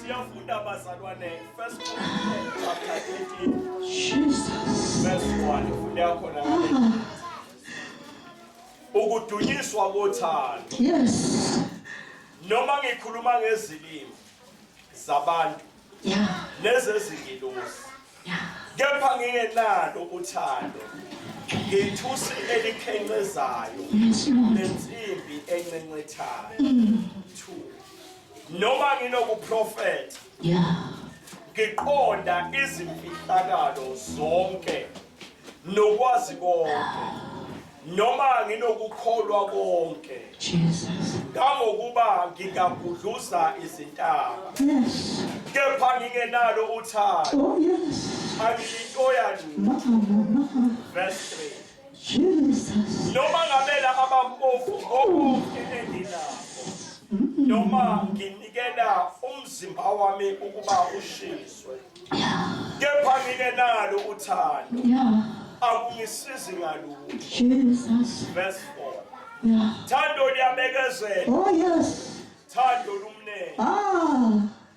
Siyafunda bazalwane first chapter 18 Jesus verse 1 ufunda khona ukudunyiswa kothando yes noma ngikhuluma ngezilimi zabantu yeah nezezingilosi yeah kepha ngingenalo uthando ngithusi elikhencezayo lensimbi encencethayo mm. noma nginokuprofetha yeah ngiqonda izimfihlakalo zonke nokwazi konke noma nginokukholwa konke Jesus kangokuba ngingagudluza izintaba yes kepha ngingenalo uthando oh yes angiyintoya nje verse 3 Jesus. Noma ngabe laba bampofu konke enginakho. Noma nginikela umzimba wami ukuba ushiswe. Kepha ngike nalo uthando. Yeah. Akungisizi ngalutho. Jesus. Verse 4. Yeah. Thando liyabekezela. Oh yes. Thando lumnene. Ah.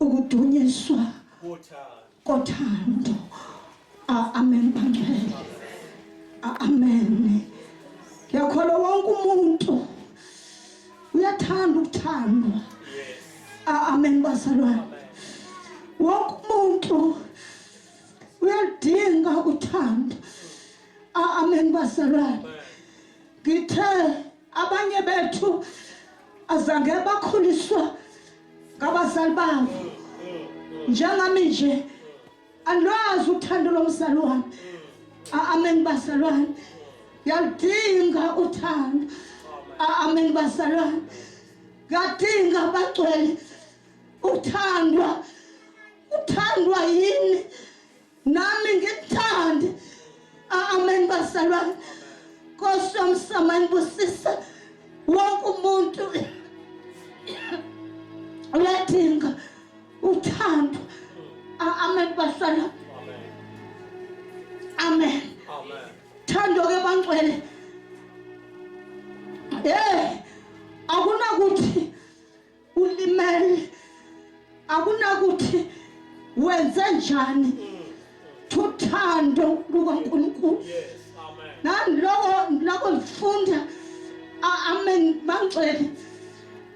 ukudunyiswa kothando amen bangcwele amen yakholwa wonke umuntu uyathanda ukuthandwa amen bazalwane wonke umuntu uyaludinga uthando amen bazalwane ngithe abanye bethu azange bakhuliswa ngabazali babo njengami nje alwazi uthando lomzali wami amen bazalwane yaludinga uthando amen bazalwane yadinga bagcwele uthandwa uthandwa yini nami ngikuthande amen basalwane nkosi yomsamani busisa wonke umuntu uyadinga uthando amen basalwane amen thando ke bangcwele eh akunakuthi ulimele akunakuthi wenze njani thuthando lukaNkulunkulu naloko loko lifunda amen mangcwele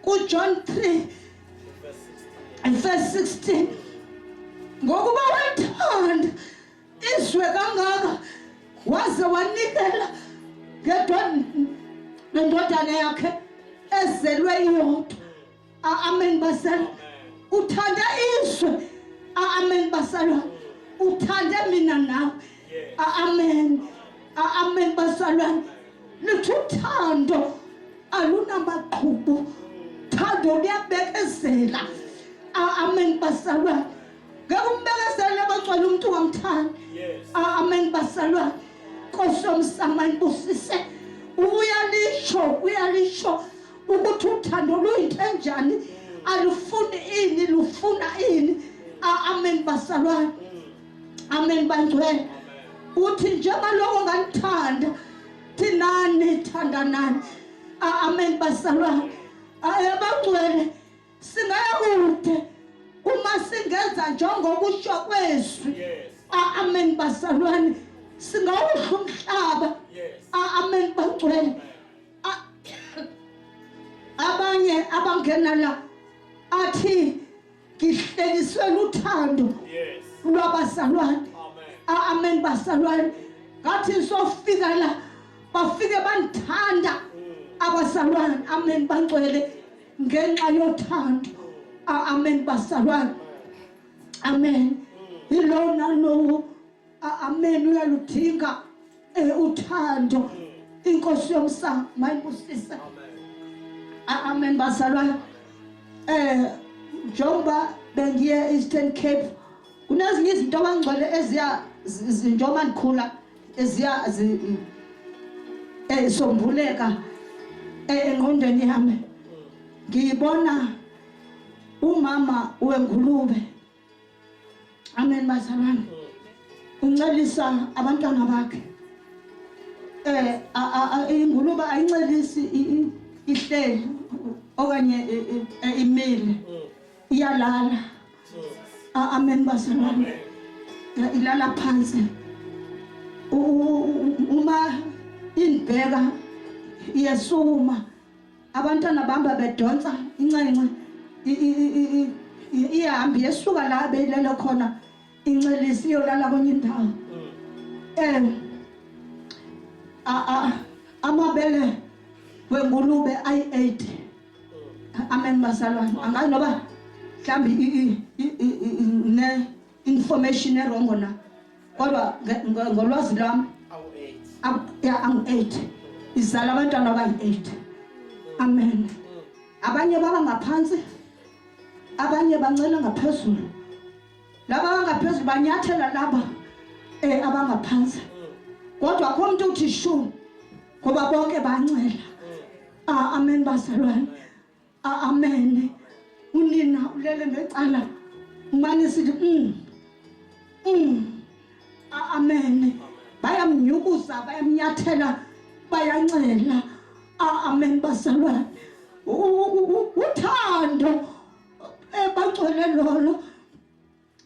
kuJohn 3 verse 16 ngokuba wethanda izwe kangaka waze wanikela ngendodana yakhe ezelwe iyodwa amen basala uthanda izwe amen basala uthande mina nawe amen amen basalwane lithi uthando alunamaqhubu thando luyabekezela amen basalwane ngeke umbekesele abagcwele umuntu wamthanda ah, amen basalwane nkosi yomsama ibusise uyalisho uyalisho ukuthi uthando luyinto enjani alufuni ini lufuna ini ah, amen basalwane amen bangcwele uthi njengoba lokho nganithanda thinani thandanani ah, amen basalwane abangcwele Singaya kude uma singenza njengokusho kwezwi. Yes. Amen bazalwane. Singawudla umhlaba. Yes. Amen bangcwele. Abanye abangena la athi ngihleliswe luthando. Yes. Lwabazalwane. Amen. Amen bazalwane. Ngathi sofika la bafike bandithanda mm. abazalwane amen bangcwele ngenxa yothando amen basabana amen yilowo nalowo amen uyaludinga eh, uthando inkosi yomsamo mayibusise amen bazalwane eh njengoba bengiye Eastern Cape kunezinye izinto abangcwele eziya njengoba ndikhula eziyazi esombuleka engqondweni yami ngiyibona umama wengulube amen bazalwane uncelisa abantwana bakhe eh ingulube ayincelisi ihleli okanye e, e, e, imile iyalala Amen bazalwane. Ilala phansi. Uma indibheka iyesuma abantwana bamba bedonsa incenxe ihambi yesuka la beyilele khona incelisi iyolala kwenye indawo um amabele wengulube ayi-eight amen bazalwane angazi noba mhlawumbi ne-information erongo na kodwa ngolwazi lwami ya angu-eight izala abantwana abayi-eight amen mm. abanye baba ngaphansi abanye bancela ngaphezulu laba abangaphezulu banyathela laba eh abangaphansi mm. kodwa akho umuntu uthi shu ngoba bonke bancela Ah, amen bazalwane. Ah, amen. Unina ulele ngecala. Umane sithi mm. Mm. Ah, amen. Bayamnyukuza, bayamnyathela, bayancela. Ah, amen bazalwane. Uthando ebagcwele lolo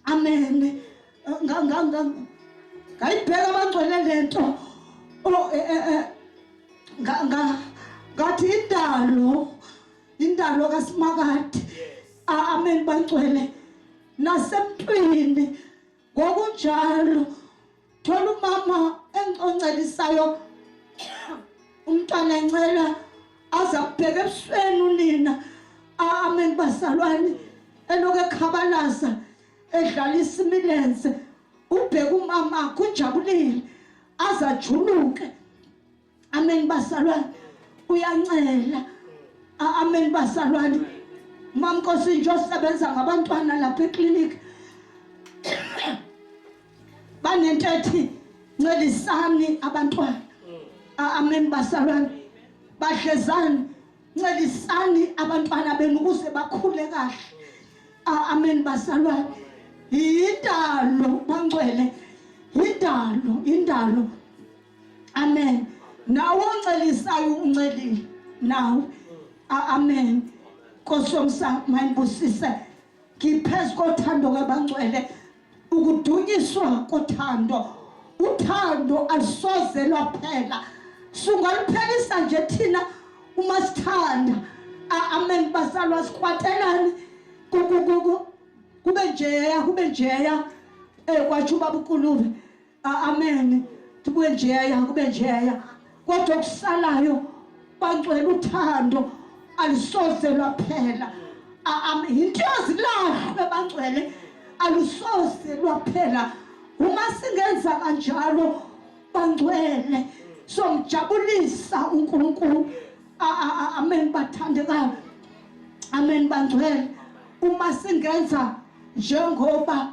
amen ngayibheka abangcwele lento oh, eh, eh, eh. ngathi indalo indalo kasimakade amen bangcwele nasemntwini ngokunjalo thola umama engiconcelisayo umntwana encela aza kubheka ebusweni unina amen bazalwane eloku ekhabalaza edlala isimilenze ubheka umama kunjabulile azajuluke amen basalwane uyancela amen basalwane mamnkosi nje osebenza ngabantwana lapha eclinic banento ethi ncelisani abantwana amen basalwane badlezani ncelisani abantwana benu ukuze bakhule kahle amen basalwane yindalo bangcwele yindalo yindalo amen nawe oncelisayo uncelile nawe amen nkosi yomsamo mayibusise ngiphezu kothando kabangcwele ukudunyiswa kothando uthando alusoze lwaphela sungaluphelisa nje thina uma sithanda amen basalwa sikwatelani kube njeya kube njeya um eh, kwatsho ubaba ukulube amen kube njeya kube njeya kodwa okusalayo bangcwele uthando alisoze lwaphela yinto yazilahlwe bangcwele alusoze lwaphela uma singenza kanjalo bangcwele somjabulisa uNkulunkulu amen bathandekayo amen bangcwele uma singenza njengoba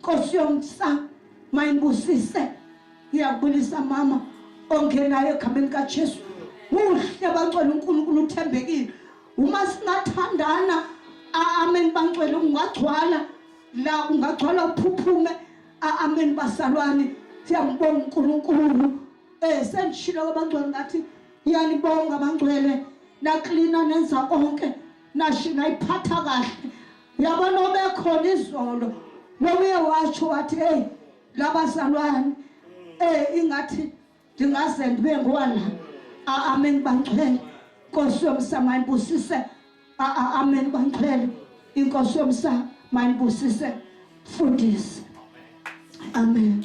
Nkosi yomsa mayibusise ngiyakubulisa mama ongenayo egameni kaJesu muhle bangcwele uNkulunkulu uthembekile uma singathandana amen bangcwele ungagcwala la ungagcwala uphuphume amen basalwane siyambonga uNkulunkulu eh sengishilo kwabangcwele ngathi ngiyanibonga bangcwele naklina nenza konke nashina iphatha kahle yabona obekhona izolo nokuye washo wathi hey labazalwane eh ingathi ndingaze ndibe ngwana amen bangcwele Nkosi yomsama ibusise amen bangcwele inkosi yomsama ibusise fundise amen